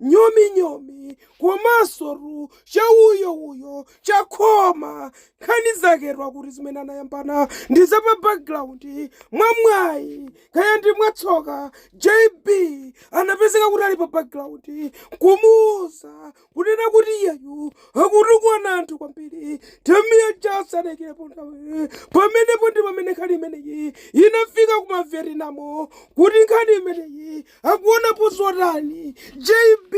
nyominyomi komanso tu cha uyo uyo chakhoma nkhani zake tu akuti zimene anayambana ndi za pa background mwamwayi kaya ndi mwatsoka jb anapezeka kuti ali pa background kumuuza kunena kuti iyeyu akutukwana anthu kwambiri tamiya ja sanayikepo nthawi pamenepo ndi pamene nkhani imeneyi inafika kumavietnamo kuti nkhani imeneyi akuonapo zotani jb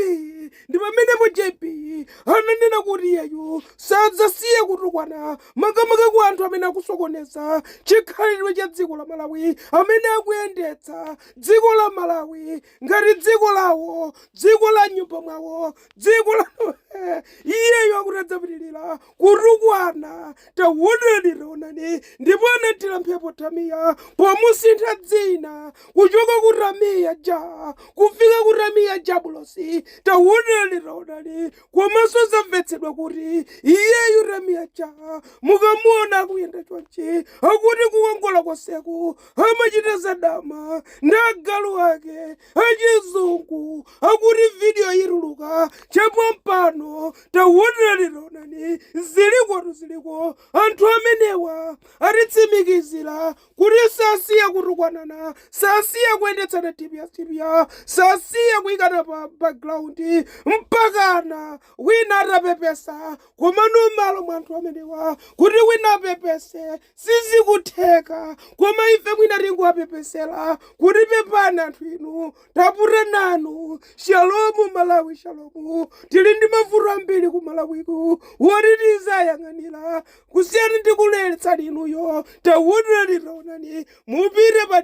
ndi pamenepo jb ananena kuti iyeyo sadzasiya kutukwana makamaka kwa anthu amene akusokoneza chikhalidwe cha dziko la malawi amene akuyendetsa dziko la malawi ngati dziko lawo dziko la mnyumba mwawo dziko la iyeyo akuti adzapitirira kutukwana taonani taonani ndipo anathira mphepo tamiya pomusintha dzina kuchoka ku tamiya ja kufika ku tamiya jabulosi taonani taonani komanso zamvetsedwa kuti iyeyu tamiya ja mukamuona akuyenda chonchi akuti kukongola konseku amachita zadama ndi agalu ake achizungu akuti vidiyo ituluka chapompano tawonani taonani zilikotu ziliko anthu amenewa atitsimikizira kuti sasiya kutukwanana sasiya kuyendetsana tipiyatipiya sasiya kuyikana pa background mpakana wina atapepesa komano malo mwa anthu amenewa kuti wina apepese Sizikutheka, koma ife mwina tingowapepesela kuti pepani anthu inu tatopa nanu. Shalom Malawi shalom. Tili ndi mavuto ambiri ku Malawiku woti tizayang'anira kusiyana ndi kuleletsani inuyo. Taonani taonani mupite pa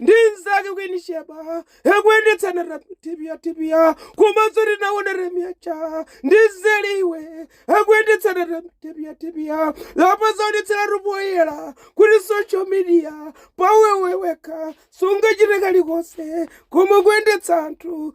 ndi mzake kwini sheba akuyendetsana tipiya tipiya komanso tinaona tamiya ja ndi zeliwe akuyendetsana tipiya tipiya apa zaonetseratu poyera kuti social media paiwewekha sungachite kalikonse koma kuyendetsa anthu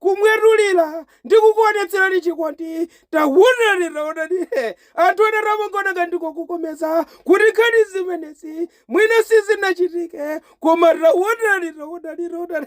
kumwetulira ndi kukuonetserani chikondi taonani taonani he anthu ena amangona ngati ndikukokomeza kuti nkhani zimenezi mwina sizinachitike koma taonani taonani taonani